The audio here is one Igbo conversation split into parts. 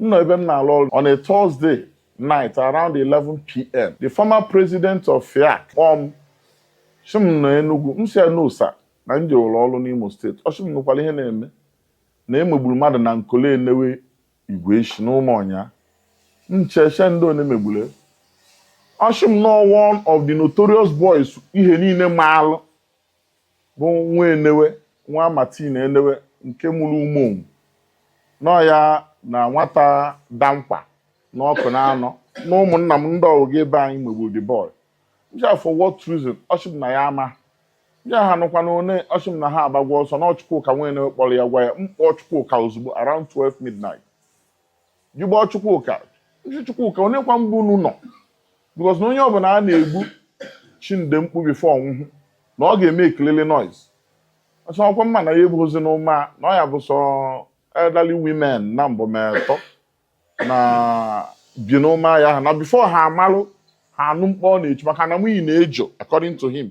m nọ ebe m na-alụ ọrụ on a Thursday night around 11pm the former president of FIAC kpọọ m sị m nọ Enugu m sị ya no sir na m jewere ọrụ n'Imo state ọ sị m nụkwara ihe na-eme na e megburu mmadụ na Nkole Enewe Igweshi n'ụmụ ọnya m cheche ndị one megburu ọ sị m n'ọ wụ one of the notorious boys ihe niile maalụ bụ nwa enewe nwa Martin enewe nke mụrụ umeonwu na ọ ya na nwata dankwa na Ọkụnanọ na ụmụnna m ndị ọwụga ebe anyị megburu the boy m jụọ ya for what reason ọ sị m na ya ama m jụọ ya ha nọkwanụ one ọ sị m na ha agbagwa ọsọ na ọ Chukwuka nwa enewe kpọrọ ya gwa ya m kpọọ Chukwuka ozugbo around 12 midnight jụba Chukwuka m sị Chukwuka one kwa ebe unu nọ because na onye ọbụla a na-egbu chinde mkpu before ọ nwụhụ na ọ ga-eme ekilili noise ọ sị ọ kwa m ma na ya ebighizi n'ụma na ọ ya bụ sọ elderly women naabọ ma atọ na-ebi n'ụma ya ha na before ha amalụ ha anụ mkpu ọ na-echi maka na mini na-ejo according to him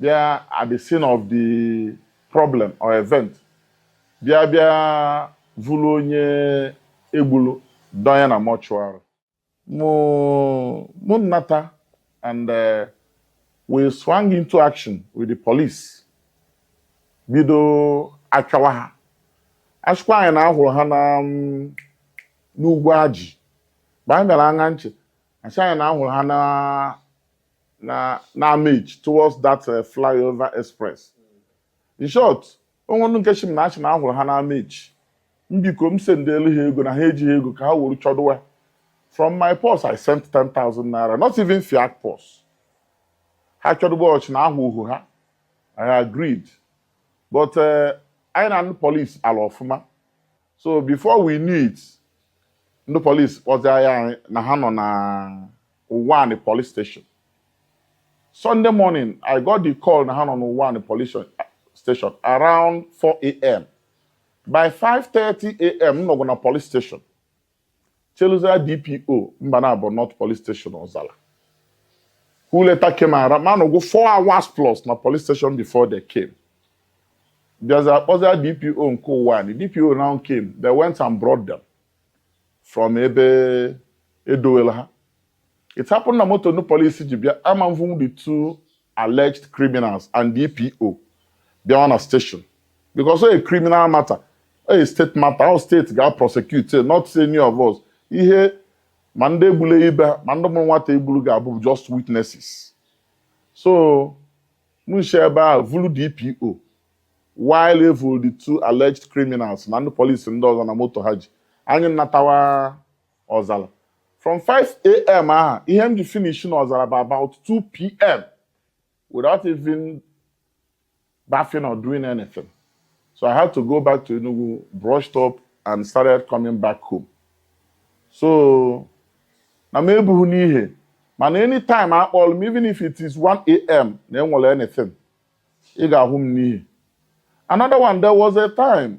bịa at the scene of the problem or event bịa bịa vụrụ onye e gburu dọnye na mortuary mụ mụ nnata and uh, we swung into action with the police bido achọwa ha a sịkwa anyị na a hụrụ ha na um, n'Ugwuaji mgbe anyị bịara aṅa nche a sị anyị na a hụrụ ha na na na amage towards that eh, flyover express in short o nwe ndị nke sị m na a sị na a hụrụ ha na amage m biko m send elu ha ego na ha ejighị ego ka ha were chọdụwa from my purse i sent 10,000 naira not even FIAC purse ha chọdụwa ọ sị na ahụhụ ha i agreed but eh, anyị na ndị polisi alụọ ọfụma so before we knew it ndị polis kpọzia gwa anyị na ha nọ na Uwani police station Sunday morning I got the call na ha nọ na Uwani police station around 4 a.m. by 5:30 a.m. m nọgo na police station Cheluzia DPO Mbanabọ North Police Station Ozala who later came around m anọgo four hours plus na police station before they came bịaza akpọza DPO nke Uwani DPO now came they went and brought them from ebe e dowelu ha it happened na moto ndị polisi ji bịa ama evu the two alleged criminals and DPO bịawa na station because a criminal matter a state matter ọ state ga prosecute not any of us ihe ma ndị egbule ibe ma ndị mụrụ nwata egbulu ga-abụ just witnesses so m shi ebe a vulu DPO while e vulu the two alleged criminals na ndị police ndị ọzọ na moto ha ji anyị natawa ọzala from 5am ahụ ihe m ji finish na ọzala bụ about 2pm without even bathing or doing anything so i had to go back to enugu brushed up and started coming back home so na m ebuhu n'ihe mana anytime a kpọlụ m even if it is 1am na enwere anything ị ga-ahụ m n'ihe another one there was a time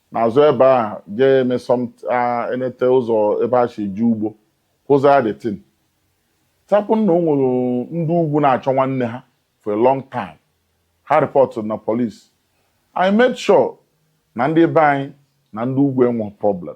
n'azụ ebe a jee eme sọmt- a- enete ụzọ ebe e shi eje ugbo kwụzaa the thing tapụ na o nwere ndị ugwu na-achọ nwanne ha for a long time ha report na police i made sure na ndị be anyị na ndị ugwu enwe problem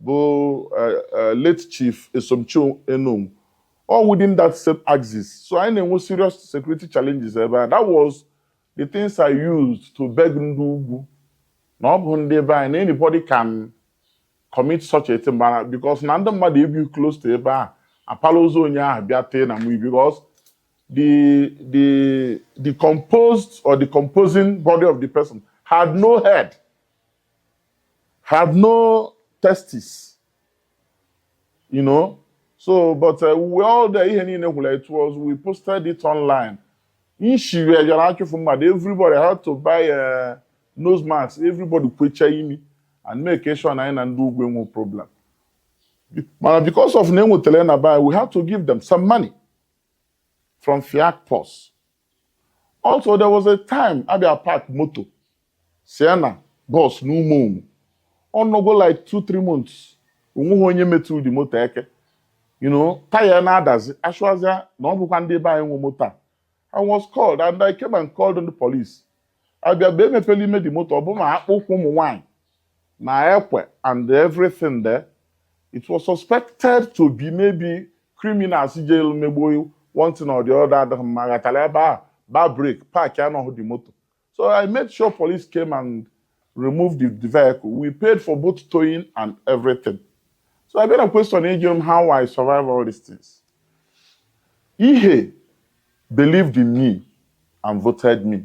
bụ late chief Esomchi you know all within that same axis. So e nwee serious security challenges ebe a. That was the things I used to beg ndị ugwu. Na ọ bụ ndị be anyị na anybody can commit such a thing mana because na ndị mmadụ ebi close to ebe ahụ apala ozu onye ahụ bịa tee na mụ because the the decomposed or decomposing body of the person had no head. have no testes you know so but uh, we all the ihe niile gwụla it was we posted it online nshiri ejara achụfụ mmadụ everybody had to buy uh, nose mask everybody kwuchie imi and make sure na anyị na ndị ugwu enwe problem mana because of na enwetara na buy we had to give them some money from fiat purse Also, there was a time abịa park moto Sienna bọs n'Ụmụọnwọ ọ nọgo like two three months onwehu onye metụ the moto eka you know taya na-adazi achụazịa na ọ bụkwa ndị be anyị nwe moto a I was called and I came and called ndị police abịa mgbe emepela ime the moto ọ bụ ma akpụ ụkwụ ụmụ nwaanyị na ekwe and everything there it was suspected to be maybe criminals jelu megbuo one thing or the other adịghị mma ghatara ebe a ba break park anọghị the moto so i made sure police came and removed the, the vehicle we paid for both towing and everything so i bịara question ịjụ m how i survive all these things ihe believed in me and voted me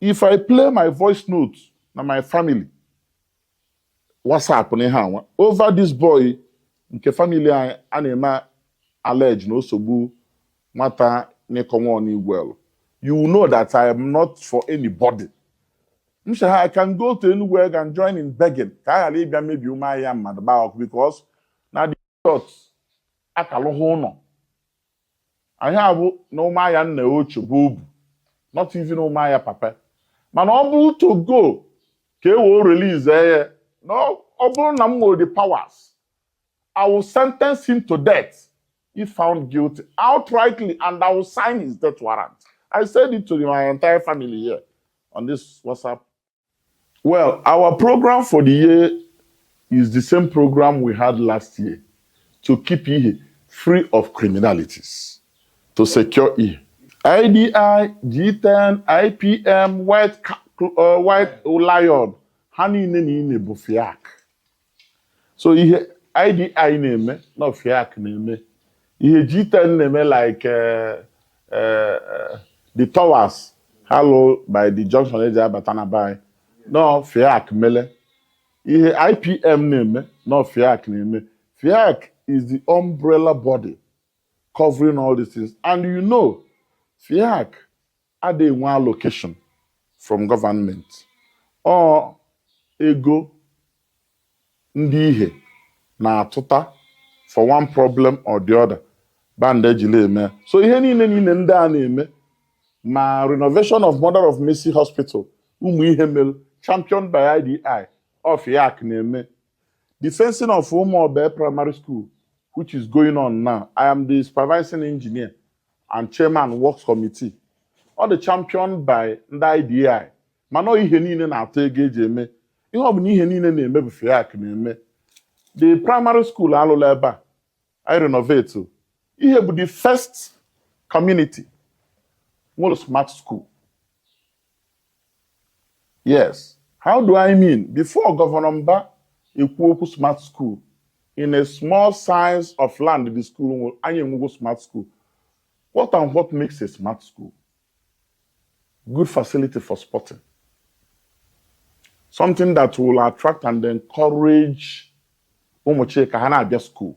if i play my voice note na my family whatsapp na ihe anwa over this boy nke family anyị a na-eme allege na o so gbu nwata n'ịkọnwa ọnigwelu you will know that i am not for anybody m sị ha i can go to anywhere and join in begging ka a ghara ịbịa mebi ume ahịa mmadụ gbaa ọkụ because Jizọs akalụghị ụlọ ahụ bụ na ụmụahịa nne ochie bụ obu not even ụmụahịa papa mana ọ bụrụ to go ka e wee release ya na ọ bụrụ na m nwere the powers I will sentence him to death if found guilty outrightly and I will sign his death warrant. I said it to my entire family here on this WhatsApp Well, our program for the year is the same program we had last year to keep Ihe free of criminalities, to secure Ihe. IDI, G10, IPM, White, uh, White Lion, ha niile niile bụ FIAC. so ihe IDI na-eme na ọ FIAC na-eme ihe G10 na-eme like eh, eh, eh, the towers ha lụ by the junction eji abata na be anyị na ọ FIAC mele ihe IPM na-eme na ọ FIAC na-eme FIAC is the umbrella body covering all these things and you know FIAC ada enwe allocation from government ọ ego ndị Ihe na-atụta for one problem or the other band ejila eme so ihe niile niile ndị a na-eme ma renovation of mother of Mercy hospital ụmụ Ihe mere championed by IDI ọ FIAC na-eme the fencing of Ụmụobe primary school which is going on now I am the supervising engineer and chairman works committee ọ dị champion by ndị IDI mana ọ Ihe niile na-atụ ego eji eme ihe ọ bụla ihe niile na-eme bụ FIAC na-eme the primary school alụla ebe a e renovate Ihe bụ the first community nwere smart school Yes, how do I mean? Before Gọvanọ Mba ekwu okwu smart school, in a small size of land the school nwere, anyị enwego smart school. What and what makes a smart school? Good facility for sporting. Something that will attract and encourage ụmụ Chika ha na-abịa school.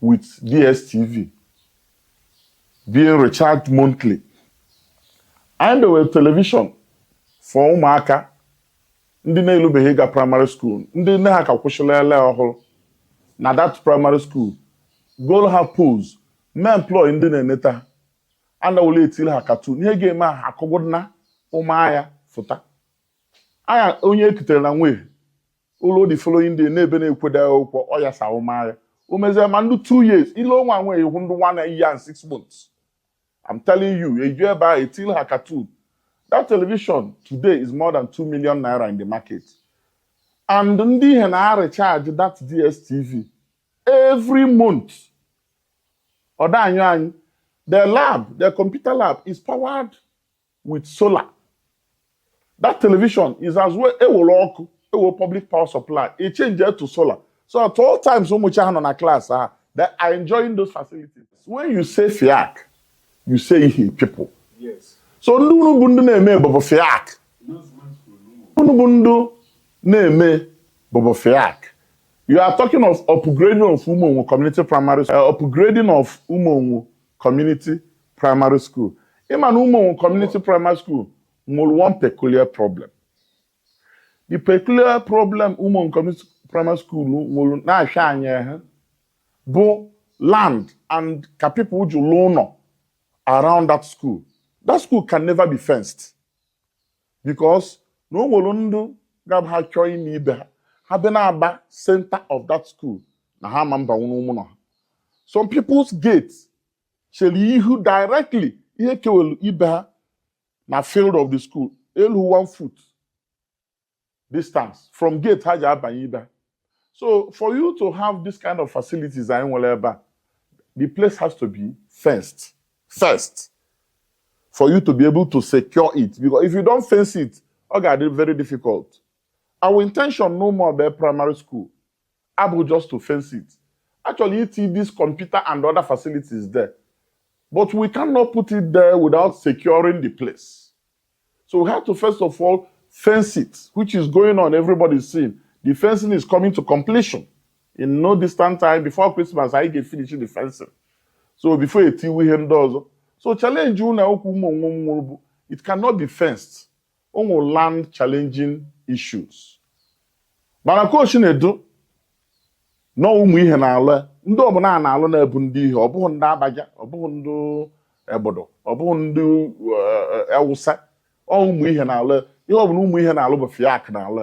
with DSTV being recharged monthly. Anyị dewere telivishọn for ụmụaka ndị na-elubeghị ịga praịmarị skuul ndị nne ha ka kwụsịrị ele ọhụrụ na that praịmarị skuul gol ha pools mee employ ndị na-eneta ha anawụla etiri ha katun ihe ga-eme ha akụgụna ụmụahịa fụta anya onye ekutere na nwee ụlọ the following day na-ebe na-ekwede ụkwọ ọ ya sa ụmagha o mezie ma ndị two years ile ọnwa nwe ihu ndị one year and six months I'm telling you eju ebe a etil ha cartoon that television today is more than 2 million naira in the market and ndị Ihe na-recharge that DSTV every month ọ da anyị anyị the lab the computer lab is powered with solar that television is as well e were ọkụ e we public power supply e change it to solar so at all times ụmụchi ha nọ na class ha they are enjoying those facilities when you say FIAC you say Ihe people yes. so ndị unu bụ ndị na-eme bụbụ FIAC unu bụ ndị na-eme bụbụ FIAC you are talking of upgrading of ụmụnwụ community primary school uh, upgrading of ụmụnwụ Community Primary School ị ma na Umuonwo Community Primary School nwere one peculiar problem the peculiar problem Umuonwo Community Primary School nwere na-ahịa anyị ehụ bụ land and ka people ji lụọ ụnọ around that school that school can never be fenced because na o nwere ndụ ga-abụ ha chọọ ịna ibe ha ha bịa na-agba center of that school na ha ma mba nwụrụ ụmụ na ha some people's gates chere ihu directly ihe kewelu ibe ha na field of the school elu one foot distance from gate ha ji abanye ibe ha. so for you to have this kind of facilities anyị nwere ebe a the place has to be fenced first for you to be able to secure it because if you don't fence it ọ ga-adị very difficult our intention no more be primary school abụ just to fence it a chọrọ iti this computer and other facilities there but we cannot put it there without securing the place so we have to first of all fence it which is going on everybody is seeing the fencing is coming to completion in no distant time before Christmas anyị ga-efinish the fencing so before e tiwe ihe ndị ọzọ so challenge ụnọ akwụkwọ Umuonwo nwere bụ it cannot be fenced ọ wụ land challenging issues mana ka o shi nọdụ na ụmụ Ihe na-alụ ndị ọbụla a na-alụ na-abụ ndị Ihe ọ bụghị ndị Abaja ọ bụghị ndị Agbudu ọ bụghị ndị Awụsa eh, eh, ọ wụ ụmụ Ihe na-alụ ihe ọbụla ụmụ Ihe na-alụ bụ fiak na-alụ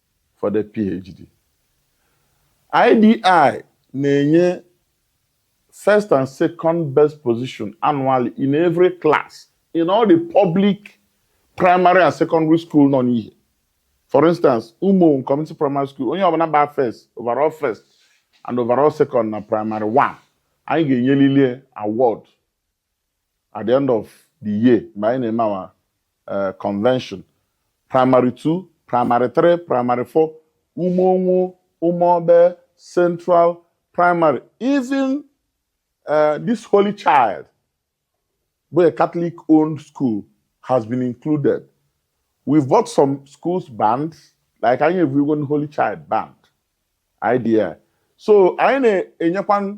for the PhD. IDI na-enye first and second best position annually in every class in all the public primary and secondary school nọ n'ihe. For instance, Umo Community Primary School, onye ọbụla gba first, overall first and overall second na primary one, anyị ga-enyelili award at the end of the year mgbe anyị na-eme awa eh, convention primary 2 primary 3 primary 4 umeonwu umeobe central primary even eh, this holy child bụ a catholic owned school has been included we've bought some schools band like anyị evugo holy child band idea so anyị na-enyekwa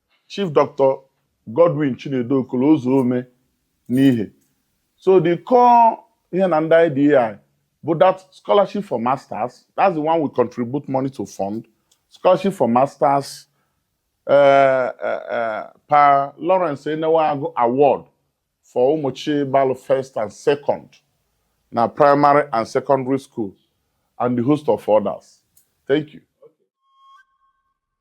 Chief Doctor Godwin Chinedu Okolo Ụzọome n'ihe so the core ihe na ndị IDA bụ that scholarship for masters that's the one we contribute money to fund scholarship for masters uh, uh, uh, pa Lawrence Enewagu award for ụmụchi balụ first and second na primary and secondary school and the host of others. Thank you.